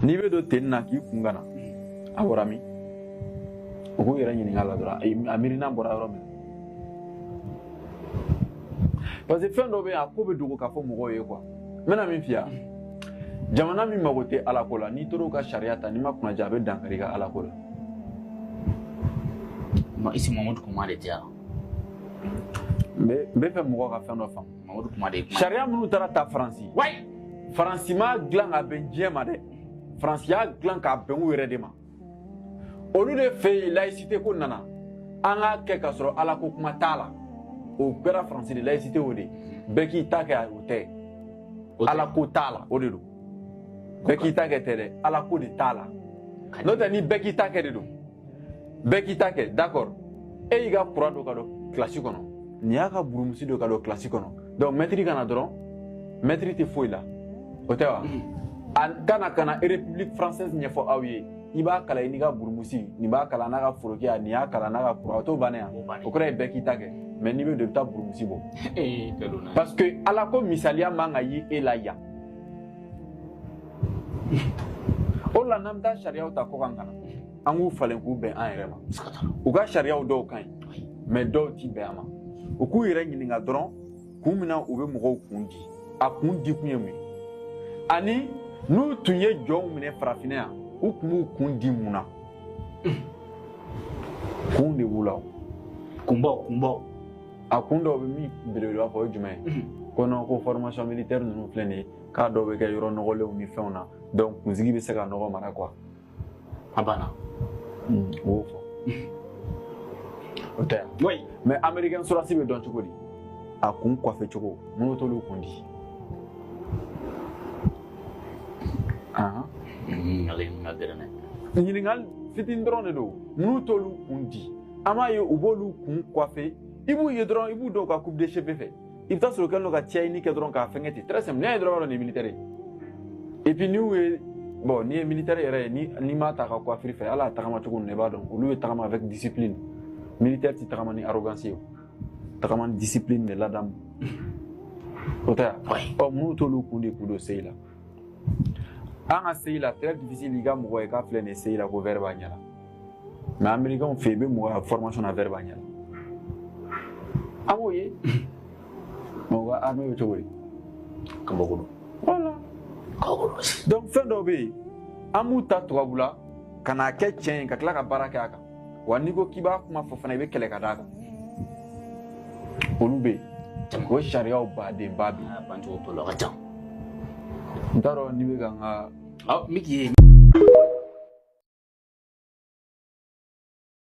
n'i bɛ don tenue na k'i kun gana a bɔra min u k'u yɛrɛ ɲininka la dɔrɔn a miirina bɔra yɔrɔ min parce que fɛn dɔ bɛ yen a ko bɛ dogo k'a fɔ mɔgɔw ye quoi n bɛna min f'i ye jamana min mago tɛ ala ko la n'i tor'o ka sariya ta n'i ma kunnaja a bɛ dankari i ka ala ko la isi mamadu kumare tɛ yan n bɛ fɛ mɔgɔ ka fɛn dɔ faamu mamadu kumare sariya minnu taara ta faransi wayi faransi m'a dilan k'a bɛn diɲɛ ma dɛ faransi y'a dilan k'a bɛn u yɛrɛ de ma olu de fɛ yen laïcité ko nana an k'a kɛ k'a sɔrɔ ala ko kuma t'a la o kɛra faransi de laïcité o de bɛɛ k'i ta kɛ o tɛ ala ko t'a la o de don bɛɛ k'i ta kɛ tɛ dɛ ala ko de t'a la n'o tɛ ni bɛɛ k'i ta kɛ de don bɛɛ k'i ta kɛ d'accord e y'i ka croix don ka don kilasi kɔnɔ nin y'a ka burumusi don ka don kilasi kɔnɔ donc mɛtiri ka na dɔrɔn mɛtiri tɛ foyi la o tɛ wa a ka na ka na république française ɲɛfɔ aw ye i b'a kalan i n'i ka burumusi nin b'a kalan n'a ka forokiya nin y'a kalan n'a ka croix o t'o bannen yan o kɔrɔ ye bɛɛ k'i ta kɛ mais n'i bɛ don i bɛ taa burumusi bɔ parce que ala ko misaliya man ka ye e la yan o la n'an bɛ taa sariyaw ta kɔkan ka na an k'u falen k'u bɛn an yɛrɛ ma u ka sariyaw dɔw ka ɲi mais dɔw ti bɛn an ma u k'u yɛrɛ ɲininka dɔrɔn kun min na u bɛ mɔgɔw kun di a kun di kun ye mun ye ani n'u tun ye jɔnw minɛ farafinna yan u tun b'u kun di mun na kun de b'u la o kunbaw kunbaw a kun dɔw bɛ min belebeleba fɔ o ye jumɛn ye ko non ko formation militaire ninnu filɛ nin ye k'a dɔw bɛ kɛ yɔrɔ nɔgɔlenw ni fɛnw na donc kunsigi bɛ se ka nɔgɔ mara quoi A banna. Un, o y'o fɔ. O tɛ yan. Oui. Mais américain sɔrɔsi bɛ dɔn cogo di? A kun kɔfɛ cogo, mun na u t'olu kun di. Ahan. Ɲininkali in ka gɛlɛn dɛ. Ɲininkali fitinin dɔrɔn de don. Mun na u t'olu kun di. An b'a ye u b'olu kun kɔfɛ. I b'u ye dɔrɔn i b'u dɔn u ka coupe de cheveux fɛ. i bɛ t'a sɔrɔ a kɛlen don ka cɛɲini kɛ dɔrɔn k'a fɛngɛ ten très simple n'i y'a ye dɔrɔn i b'a dɔn nin ye militaire ye et puis n'u ye bon n'i ye militaire yɛrɛ ye ni n'i m'a ta a ka coiffure fɛ hali a tagama cogo ninnu i b'a dɔn olu bɛ tagama avec discipline militaire tɛ tagama ni arrogance ye o tagama ni discipline de ladamu o tɛ yan ɔ mun na u t'olu kun di k'u don CI la an ka CI la très difficile i ka mɔgɔ ye k'a filɛ nin ye CI la ko verre b'a ɲɛ la mais amerikɛnw fɛ i bɛ mɔgɔ ye formation na verre b'a ɲɛ la an b'o ye mais u ka armée bɛ cogo di kabako don voilà kabako don donc fɛn dɔw bɛ yen an b'u ta tubabula ka n'a kɛ tiɲɛ ye ka tila ka baara kɛ a kan wa n'i ko k'i b'a kuma fɔ fana i bɛ kɛlɛ ka d'a kan olu bɛ yen o sariyaw badenba bɛ yen bancogo t'o la ka ca n t'a dɔn n'i bɛ ka n ka n bɛ k'i ye